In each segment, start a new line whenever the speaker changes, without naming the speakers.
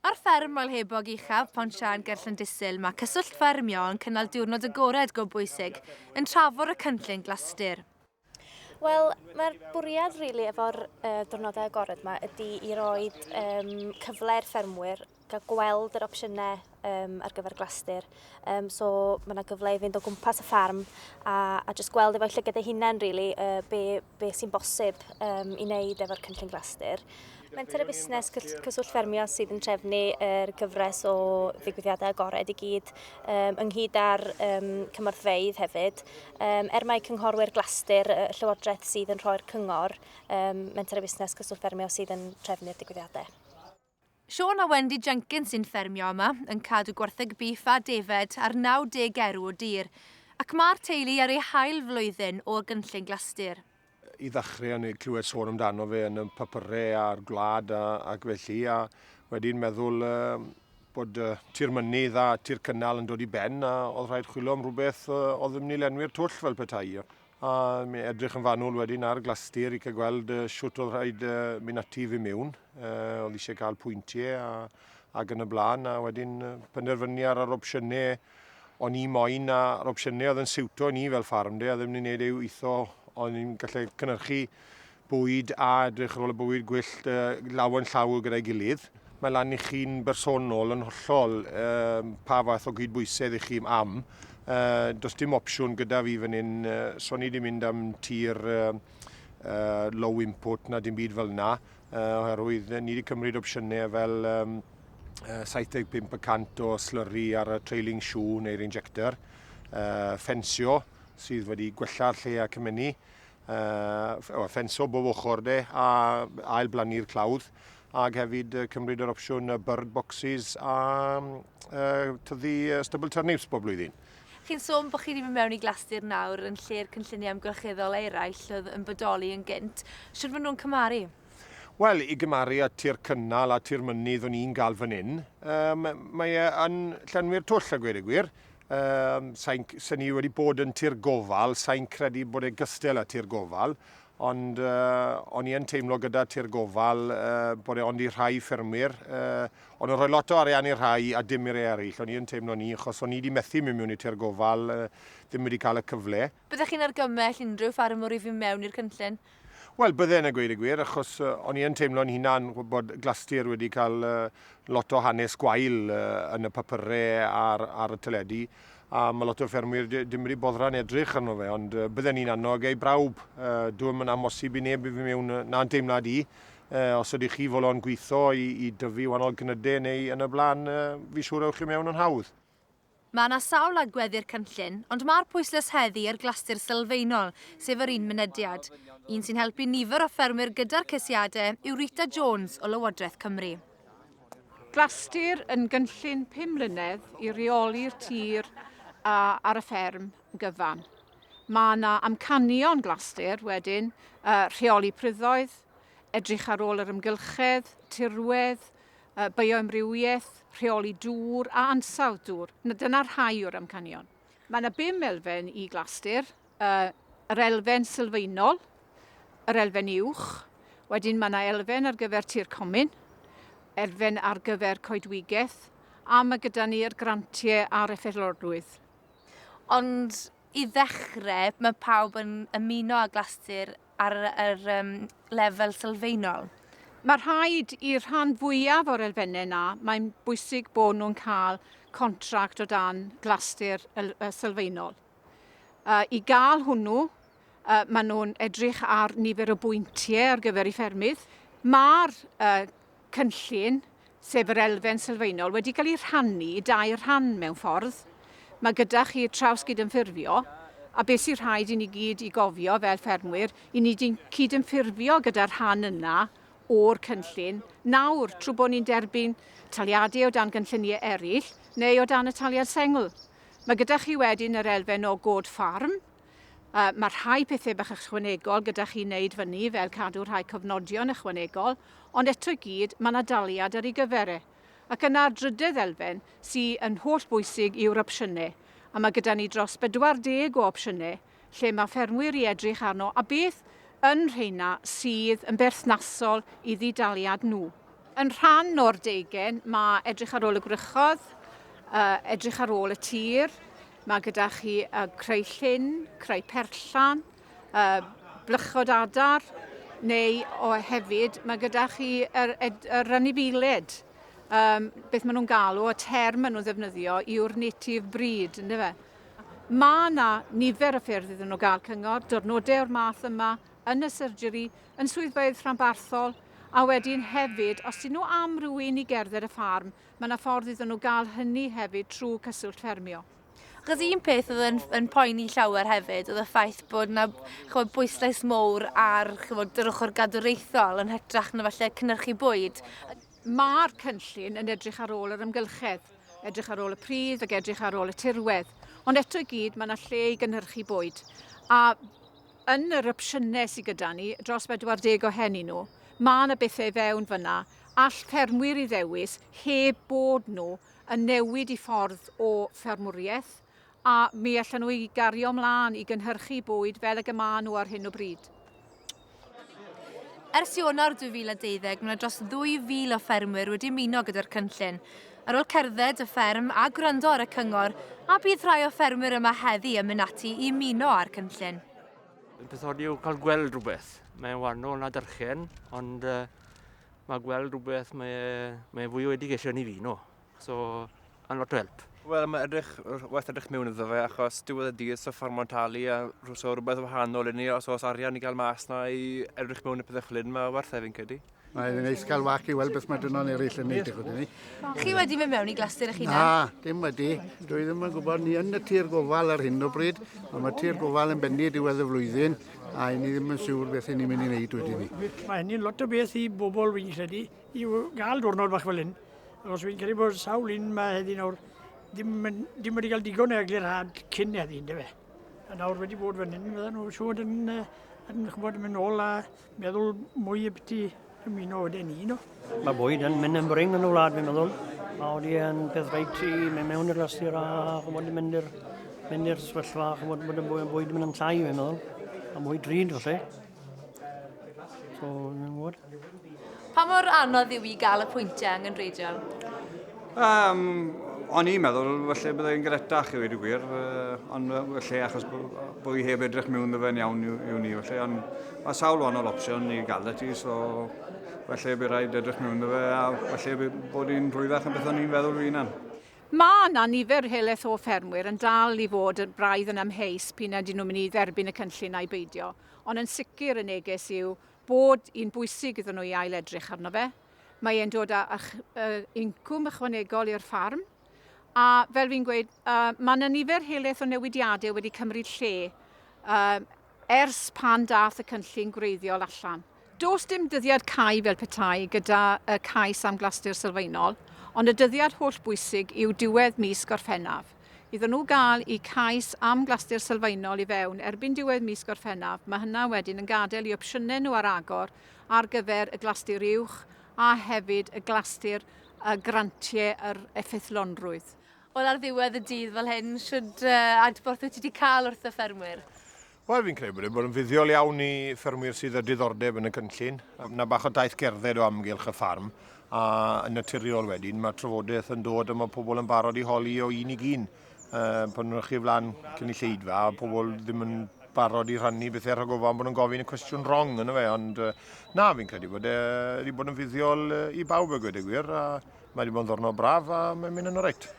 Ar fferm Moel Hebog Uchaf, Pont Siân ger Llandysul, mae Cyswllt Ffermio yn cynnal diwrnod agored go bwysig, yn trafod y cynllun glastir. Wel,
mae'r bwriad rili really efo'r uh, diwrnodau agored yma ydy i roi um, cyfle i'r ffermwyr gael gweld yr opsiynau um, ar gyfer glastir. Um, so mae yna gyfle i fynd o gwmpas y ffarm a, a jyst gweld efo'i llygad ei hunain, really, uh, be, beth sy'n bosib um, i wneud efo'r cynllun glasdur. Menter y busnes cyswllt ffermio sydd yn trefnu yr gyfres o ddigwyddiadau agored i gyd um, ynghyd â'r um, cymorthfeydd hefyd. Um, er mae cynghorwyr glasdur y Llywodraeth sydd yn rhoi'r cyngor, um, menter y busnes cyswllt ffermio sydd yn trefnu'r digwyddiadau. Siôn
a Wendy Jenkins sy'n ffermio yma, yn cadw gwartheg bîff a defaid ar 90 erw o dir, ac mae'r teulu ar eu hail flwyddyn o gynllun Glastir. I ddechrau,
o'n i'n clywed sôn amdano fe yn y papyrau a'r gwlad ac felly, a wedyn meddwl bod Tir Mynydd a Tir Cynnal yn dod i ben a oedd rhaid chwilio am rhywbeth oedd yn mynd i lenwi'r twll fel petai. A mi edrych yn fanwl wedyn ar Glastir i cael gweld shwt oedd rhaid mynd ati i fy mewn. Oedd eisiau cael pwyntiau a, ac yn y blaen. A wedyn penderfynu ar yr opsiynau o'n i moyn a'r opsiynau oedd yn siwto ni fel ffarm de, a ddim ni'n gwneud ei witho o'n i'n gallu cynnyrchu bwyd a edrych ar ôl y bwyd gwyllt uh, law yn llaw gyda'i gilydd. Mae lan i chi'n bersonol yn hollol uh, pa fath o gydbwysedd i chi am. Uh, does dim opsiwn gyda fi fan hyn, uh, so ni wedi mynd am tir uh, uh, low input na dim byd fel yna, uh, oherwydd ni wedi cymryd opsiynau fel um, 75% o slurry ar y trailing shoe neu'r injector, uh, ffensio sydd wedi gwella'r lle a cymennu, uh, ffenso bob ochr de, a ail blannu'r clawdd, ac hefyd uh, cymryd yr opsiwn uh, bird boxes a uh, tyddi uh, stubble turnips bob blwyddyn. Chi'n sôn bod chi
wedi mynd mewn i glastir nawr yn lle'r cynlluniau amgylcheddol eraill oedd yn bodoli yn gynt. Siwr fod nhw'n cymaru? Wel, i
gymaru â tir cynnal a tir mynydd o'n i'n gael fan hyn, um, mae e yn llenwi'r twll a gweud y gwir. Um, sa'n, sa ni wedi bod yn tir gofal, sa'n credu bod e gystel â tir gofal, ond uh, o'n i yn teimlo gyda tir gofal uh, bod e ond i rhai ffermwyr, uh, ond yn rhoi lot o arian i'r rhai a dim i'r eraill. O'n i yn teimlo ni, achos o'n i wedi methu mynd mewn i tir gofal, uh, ddim wedi cael y cyfle. Byddech chi'n argymell
unrhyw ffarmwr i fynd mewn i'r cynllun? Wel, bydden a
gweud y gwir, achos o'n i yn teimlo'n hunan bod Glastir wedi cael lot o hanes gwael yn y papyrau ar, ar y teledu, a mae lot o ffermwyr ddim wedi boddran edrych arno fe, ond bydden i'n annog ei brawb. Dwi'n yn amosib i neb i fi mewn na'n teimlad i. Os ydych chi folon gweithio i, i dyfu wahanol cnydau neu yn y blaen, fi siŵr ewch chi mewn yn hawdd. Mae yna
sawl agwedd i'r cynllun, ond mae'r pwyslais heddi ar glastir sylfaenol, sef yr un mynediad. Un sy'n helpu nifer o ffermwyr gyda'r ceisiadau yw Rita Jones o Lywodraeth Cymru.
Glastir yn gynllun pum mlynedd i reoli'r tir a ar y fferm gyfan. Mae yna amcanion glastir wedyn, uh, rheoli pryddoedd, edrych ar ôl yr ymgylchedd, tirwedd, bioamrywiaeth, rheoli dŵr a ansawdd dŵr. Dyna rhai o'r amcanion. Mae yna bum elfen i Glastir, yr elfen sylfaenol, yr elfen uwch, wedyn mae yna elfen ar gyfer tir comin, elfen ar gyfer coedwigaeth, a mae gyda ni yr grantiau a'r effeithlorrwydd.
Ond i ddechrau, mae pawb yn ymuno â Glastir ar yr um, lefel sylfaenol. Mae rhaid
i'r rhan fwyaf o'r elfennau yna, mae'n bwysig bod nhw'n cael contract o dan glastir sylfaenol. Uh, I gael hwnnw, uh, maen nhw'n edrych ar nifer o bwyntiau ar gyfer ei ffermydd. Mae'r uh, cynllun, sef yr elfen sylfaenol, wedi cael ei rhannu i dair rhan mewn ffordd. Mae gyda chi trawsgydymffurfio, a beth sy'n rhaid i ni gyd i gofio fel ffermwyr, i ni cydymffurfio gyda'r rhan yna o'r cynllun nawr trwy bod ni'n derbyn taliadau o dan gynlluniau eraill neu o dan y taliad sengl. Mae gyda chi wedyn yr elfen o god ffarm, Uh, mae rhai pethau bach ychwanegol gyda chi wneud fyny, fel cadw rhai cofnodion ychwanegol, ond eto i gyd, mae yna daliad ar ei gyfer e. Ac yna'r drydedd elfen, sydd yn holl bwysig yw'r opsiynau, a mae gyda ni dros 40 o opsiynau lle mae ffermwyr i edrych arno a beth yn rheina sydd yn berthnasol i ddidaliad nhw. Yn rhan o'r deugen, mae edrych ar ôl y gwrychodd, uh, edrych ar ôl y tir, Mae gyda chi uh, creu llyn, creu perllan, uh, blychod adar, neu o hefyd mae gyda chi yr, yr anifeiliaid, um, beth maen nhw'n galw, y term maen nhw'n ddefnyddio yw'r native breed, ynddo fe? Mae yna nifer o ffyrdd iddyn nhw gael cyngor, diwrnodau o'r math yma, yn y surgery, yn swyddfeydd rhanbarthol, a wedyn hefyd, os dyn nhw am rhywun i gerdded y ffarm, Mae yna ffordd iddyn nhw gael hynny hefyd trwy Cyswllt Ffermio. Achos un
peth oedd yn, yn poeni llawer hefyd oedd y ffaith bod yna chymod, bwyslais mowr ar chymod, yr ochr gadwraethol yn hytrach na falle cynnyrchu bwyd. Mae'r
cynllun yn edrych ar ôl yr amgylchedd, edrych ar ôl y pridd ac edrych ar ôl y tirwedd. Ond eto i gyd, mae yna lle i gynhyrchu bwyd. A yn yr opsiynau sydd gyda ni, dros 40 o hen nhw, mae yna bethau fewn fyna All ffermwyr ei ddewis heb bod nhw yn newid eu ffordd o ffermwriaeth, a mi allan nhw ei gario ymlaen i gynhyrchu bwyd fel ag y maen nhw ar hyn o bryd.
Ers Ionawr 2012, mae 'na dros 2,000 o ffermwyr wedi ymuno gyda'r cynllun. Ar ôl cerdded y fferm a gwrando ar y cyngor, a bydd rhai o ffermwyr yma heddi yn mynd ati i ymuno â'r cynllun? Y peth od
yw cael gweld rhywbeth. Mae'n wahanol na dyrchen, ond yy mae gweld rhywbeth mae, mae fwy o education i fi, no. So, yn lot o help. Wel, mae edrych,
waith edrych mewn iddo fe, achos diwedd y dydd, so ffordd mae'n talu, a so rhywbeth wahanol i ni, os oes arian i gael mas na i edrych mewn i pethau chlyn, mae werth efo'n cedi. Mae e'n neis cael wac
i weld beth mae dynon eraill yn neud ychydig ni. Chi wedi mynd mewn
i glasur eich hunan? Na, dim wedi.
Dwi ddim yn gwybod, ni yn y tir gofal ar hyn o bryd, ond mae tir gofal yn benni diwedd y flwyddyn, A i ni ddim yn siŵr beth i ni'n mynd i wneud wedi ni. Mae hynny'n lot o beth
i bobl fi'n credu, i gael diwrnod bach fel hyn. Os fi'n credu bod sawl un yma heddi nawr, ddim, ddim wedi cael digon o eglurhad cyn heddi, ynddo fe. A nawr wedi bod fan hyn, fydden nhw'n siŵr yn, yn chybod, mynd ôl a meddwl mwy y byti Ymuno oedd e'n un o. Mae bwyd yn mynd
yn brin yn y wlad, fi'n meddwl. Mae wedi yn peth reit i mynd mewn i'r lastir a chymod i mynd i'r mynd i'r sefyllfa, chymod bod y bwyd, bwyd yn mynd yn llai, fi'n meddwl. A mwy drud, falle. So, ni'n gwybod. Pa mor
anodd yw i gael y pwyntiau yng Nghynreidiol? Um,
o'n i'n meddwl, felly byddai'n gretach i wedi gwir, uh, ond felly achos bod i heb edrych mewn ddefen iawn yw, yw ni, felly, ond mae sawl wahanol opsiwn i gael y ti, so felly bydd rhaid edrych mewn ddefe, a felly bydd bod i'n rhwyddach yn beth o'n i'n feddwl fi'n an. Mae yna
nifer helaeth o ffermwyr yn dal i fod yn braidd yn amheus p'un ydyn nhw'n mynd i dderbyn y cynllun a'i beidio, ond yn sicr y neges yw bod hi'n bwysig iddyn nhw i ail-edrych arno fe. Mae e'n dod â incwm ychwanegol i'r ffarm. A fel fi'n gweud, mae yna nifer helaeth o newidiadau wedi cymryd lle ers pan daeth y cynllun gwreiddiol allan. Does dim dyddiad cau fel petai gyda cais am glastir sylfaenol, ond y dyddiad holl bwysig yw diwedd mis Gorffennaf. Iddyn nhw gael y cais am glastir sylfaenol i fewn erbyn diwedd mis Gorffennaf, mae hynna wedyn yn gadael i opsiynau nhw ar agor ar gyfer y Glastir Uwch a hefyd y Glastir a Grantiau yr Effeithlonrwydd. Wel, ar ddiwedd
y dydd fel hyn, shwd adborth wyt ti wedi cael wrth y ffermwyr? Wel, fi'n credu
bod e bod yn fuddiol iawn i ffermwyr sydd â diddordeb yn y cynllun. Yna bach o daith gerdded o amgylch y ffarm, a yn naturiol wedyn mae trafodaeth yn dod a mae pobl yn barod i holi o un i un. uh, pan nhw'n chi flan cynulleidfa a pobl ddim yn barod i rhannu bethau rhag ofan bod nhw'n gofyn y cwestiwn wrong yna fe, ond uh, na, fi'n credu bod e wedi bod yn fuddiol uh, i bawb y gwedig wir, a mae wedi bod yn ddwrnod braf a mae'n mynd yn o'r reit.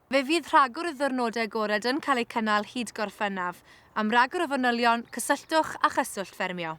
Fe fydd rhagor
o ddwrnodau agored yn cael eu cynnal hyd Gorffennaf. Am ragor o fanylion, cysylltwch â Chyswllt Ffermio.